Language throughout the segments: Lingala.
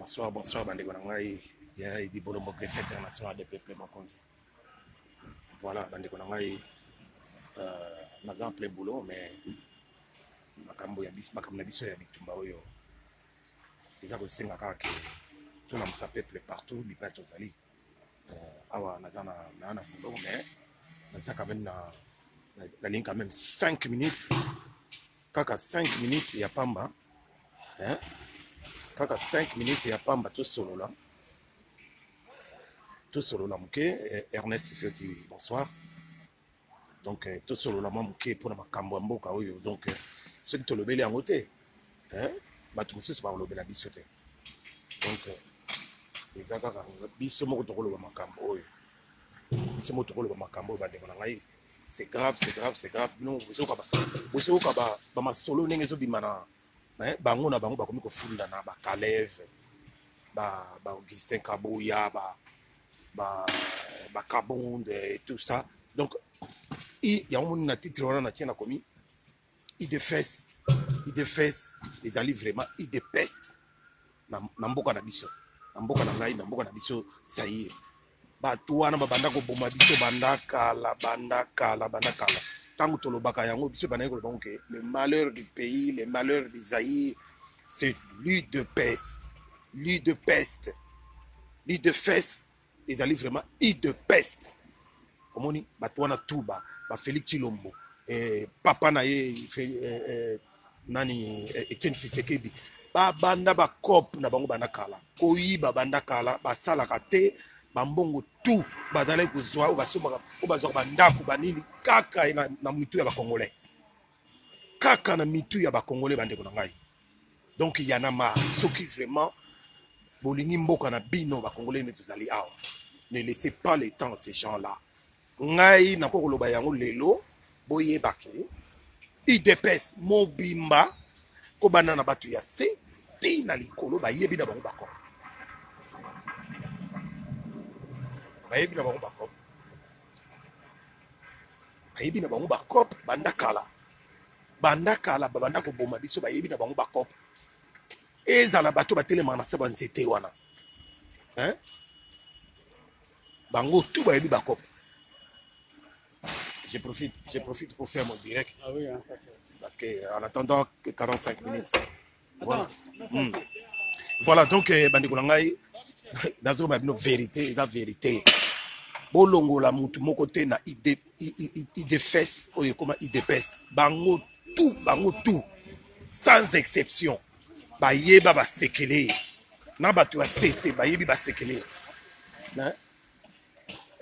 bonsoir bonsoir bandeko na ngai ya edi bolombo greffe international de peuple mokonzi voilà bandeko na ngai euh, naza en plein boulot mais makambo ya biso makambo na biso ya bitumba oyo eza kosenga kaka ke tolamusa peuple partout bipai tozali Euh, awa naza na na foto mais naza quand même na nalingi quand même 5 minutes kaka 5 minutes ya pamba hein? kaka 5 minutes ya pamba tosolola tosolola moke eh, ernest fioti bonsoir donc euh, tosolola mwa moke mpo na makambo ya mboka oyo donc euh, soki tolobeli yango te bato mosusu bakolobela biso te donc euh, eza kaka biso moko tokoloba makambo oyo biso moko tokoloba makambo oyo bandeko na ngai c'est grave c'est grave c'est grave bino bozoyoka bamasolo ndenge ezobima na bango na bango bakomi kofundana bakaleve ba, ba augustin kabuya ba ba ba carbone et tout ça donc il y a un na titre wana na tient na komi il de fesse il de fesse ezali vraiment il de peste na na mboka na biso na mboka na ngai na mboka na biso sair bato wana babanda koboma biso banda kala banda kala banda kala ntango tolobaka yango biso bandaki koloba yango ke le malheur du pays le malheur du zaïre c'est l'huile de peste l'huile de peste l'huile de fesse ezali vraiment huile de peste omoni bato wana tout ba ba Félix Tshilombo eh, papa na ye eh, eh, nani eh, Etienne Tshisekedi babanda bacope na bango banda kala koyiba banda kala basalaka te bambongo tout bazalaki kozwa oyo basombaka oyo bazwaka bandako banini kaka na, na mitu ya bacongolais kaka na mitu ya bakongole bandeko na ngai donc yana ma soki vraiment bolingi mboka na bino bakongole nde tozali awa ne laissez pas le temps ces gens là ngai nakoki koloba yango lelo boyeba ke idps mobimba kobanda na bato ya se ti na likolo bayebi na bango bakoma bayebi na bango bakoma Bayebi na bango ba coop banda kala, banda kala babanda koboma biso, bayebi na bango ba coop, ezala bato batelemaka na se ba nzete wana hein? bango tout bayebi ba coop. Je profite, je profite pour faire mon direct ah oui, hein, parce que en attendant que 45 minutes Voilà. Mm. Voilà, donc eh, bandeko na ngai nazoloba bino verité eza verité bolongola motu moko te na idefes oyo ekoma idepest bango tout bango tout sans exception bayeba basekele na bato ya sese bayebi basekele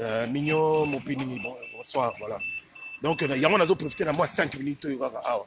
euh, mignon mopini bonsoir voilà donc yango nazo profite na mwa 5 minutes oyo kaka awa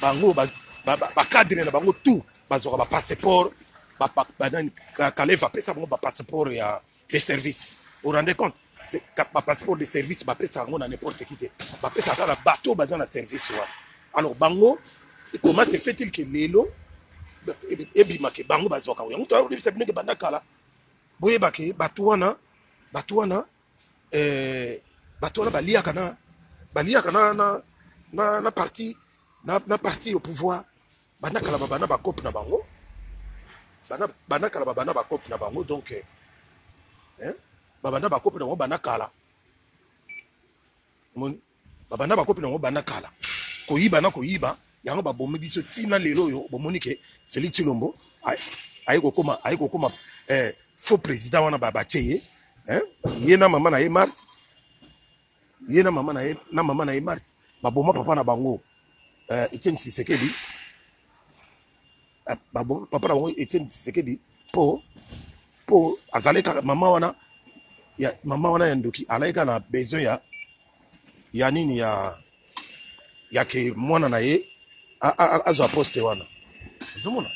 bango bacadre na bango tout bazwaka bapasseport kalev apesa bango bapasseport ya de service au rende compte bapasseport de service bapesaka yango na n'importe qui te bapesaka na bato baza na service wana alors bango comment se fait-il que lelo ebimake bango bazwaka yango toyebisa bino ke banda kala boyebake bato wana bato wana eh, bato wana baliaka na baliaka na, na, na, na parti na, na parti au pouvoir banda kala babanda bakope na bango banda, banda kala babanda bakope na bango donc eh, eh babanda bakope na bango banda kala Mon, babanda bakopi nango banda kala koyiba na koyiba yango babomi biso tina lelo oyo bomoni ke felix chilombo aye kokoma aye kokoma eh, faux président wana batie ye eh, ye na mama na ye marte ye na mama na ye na mama na ye marte baboma papa na bango eh, etienne sisekedi papa na bango etienne tisekedi po po azalaki kaka mama wana ya mama wana ya ndoki alaki kaka na besoin ya ya nini ya ya ke mwana na ye azwa poste wana ozomona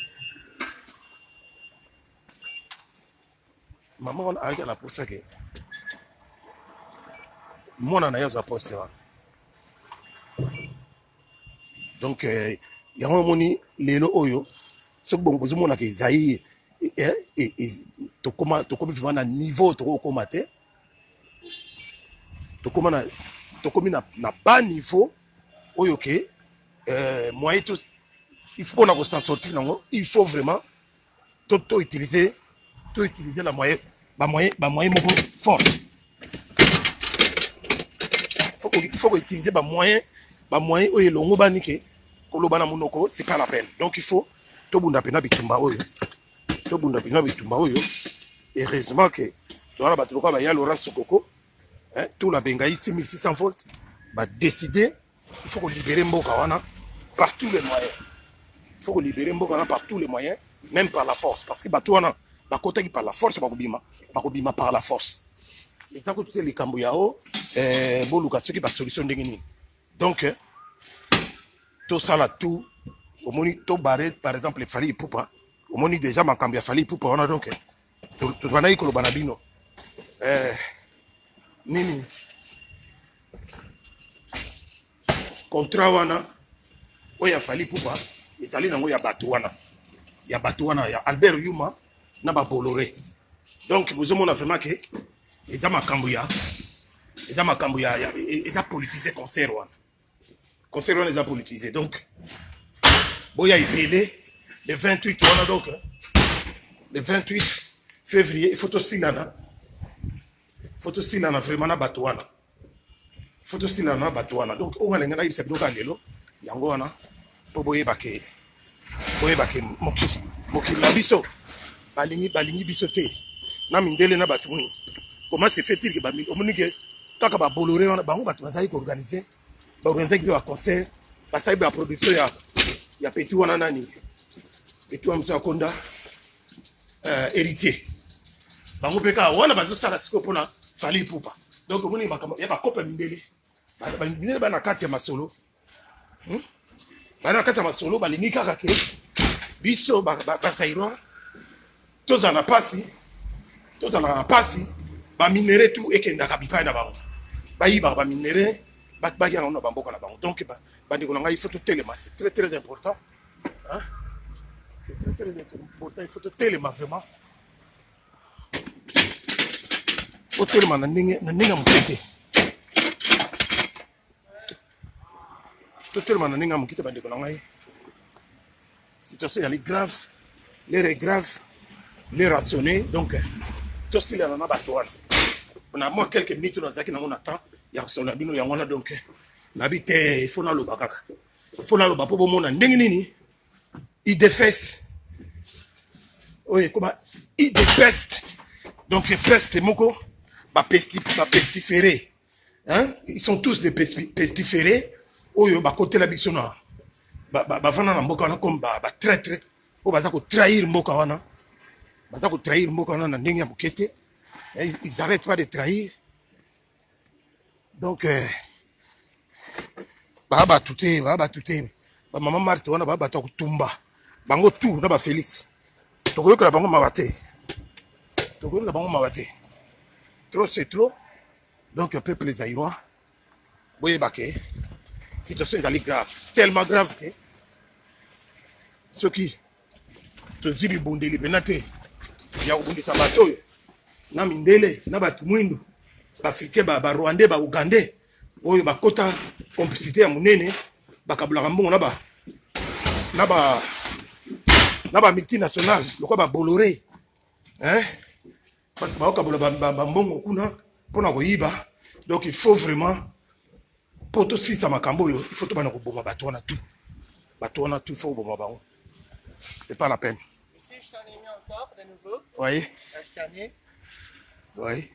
mama wana ayaki na posa ke mwana na ye azwa poste wana donc eh, yango omoni lelo oyo soki bongo bozomonaka ezai eh, eh, tokomi vraimen na niveau tokokoma te tokomi na bas niveau oyo ke moyen il faut mpona kosensortir nango il faut vraiment to to utiliser to utiliser la moyen ba moyen ba moyen moko fort faut que faut utiliser ba moyen ba moyen oyo elongo bani ke koloba na monoko c'est pas la peine donc il faut to bunda pena bitumba oyo to bunda pena bitumba oyo heureusement que toza na bato lokola baya laurent sokoko hein, tula bengai 6600 volts badeside il faut ko libérer mboka wana par tous les moyens il faut ko libérer mboka wana par tous les moyens même par la force parce que bato wana bakotaki par la force bakobima bakobima par la force eza kutu te likambo ya o eh, boluka soki basolution ndenge nini donc eh, tosala tout omoni tobare par exemple efali ipupa omoni déjà makambo ya fali ipupa wana donc eh, tobandaki koloba na bino eh, nini contrat wana oyo ya fali pupa ezali nango ya bato wana ya bato wana ya albert yuma na babolore donc bozomona vraiment ke eza makambo ya eza makambo ya, ya e, eza politise concert wana concert wana eza politise donc boya ebele le 28 wana donc le 28 février il faut tosilana faut tosilana vraiment na bato wana faut tosilana na bato wana donc oyo nalingi nayebisa bino kaka lelo yango wana mpo boyebake boyebake mokili mokili na biso balingi balingi biso te na mindele na bato moni comment se fait-il que omoni ke kaka babolore wana bango bato bazali koorganize baorganisaki mpe baconcert basali baproduction ya ya peti wana nani peti wana mosu ya konda euh, héritier bango mpe kaka wana bazosala sikoyo mpona fali pupa donc omoni makambo ya bakopa mindele mindele baa na kati ya masolo hmm? baa na kati ya masolo balingi kaka ke biso basairois tozala na mpasi tozala na mpasi baminere tu ekendaka bipai na bango bayibaka baminere baki yango na bamboka na bango donc bandeko na ngai ifo totelema c'est très très important Hein? C'est très très important, il faut te telema vraiment. Faut telema na ndenge na ndenge moke te. To telema na ndenge moke te bandeko na ngai. Situation ezali grave, l'air est grave, l'air rationné, donc tosilana na bato wana. Na mwa quelques minutes nazalaki nango na temps ya kosolola bino yango wana donc nabi te il faut naloba kaka. fo naloba mpo bomona ndenge nini idefes oyo ekoma idepeste donc peste moko bapestifere hein? ils sont tous des pestifere oyo bakotela biso na bavanda na mboka wana comme batraitre oyo baza kotrahir mboka wana baza kotrahir mboka wana na ndenge ya moke te ils arrêtent pas de trahir donc euh, baa bato te baa bato te bamama marte wana baa bato ya kotumba bango tour na bafelix tokoyokela bango mawa te tokoyokela bango mawa te trop c'est trop donc peuple zairois boyeba ke situation ezali grave tellement grave ke soki tozwi bibundeli mpena te ya kobundisa bato oyo na mindele na bato mwindu baafrike barwandais ba baougandais oyo bakota complicité ya monene bakabolaka mbongo na ba na ba na ba multinationale lokola babolore hein? bato baokabola bambongo kuna mpo na koyiba donc il faut vraiment mpo tosilisa makambo oyo il faut tobanda koboma bato wana tout bato wana tout faut koboma bango c'est pas la peine oui oui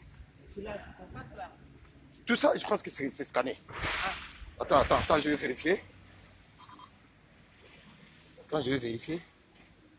tout ça je pense que c'est scanné ah. attends attends attends je vais vérifier attends je vais vérifier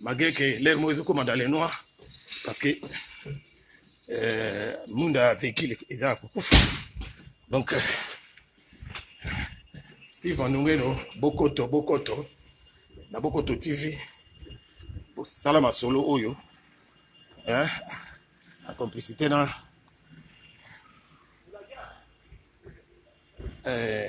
malgré que l'air moko ezokoma dans le noir parce que euh, monde a vécu eza ya kokufa donc euh, steve anungeno bokoto bokoto na bokoto tv bosala masolo oyo hein, en complicité na euh,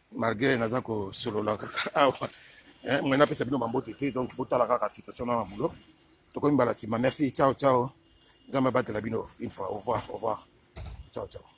malgre naza kosolola kaka awa eh, mwe napesa bino bambote te donc botala kaka situation na mabulo tokomi mbala nsima merci ciao ciao nzambe abatela bino une fois au revoir au revoir ciao ciao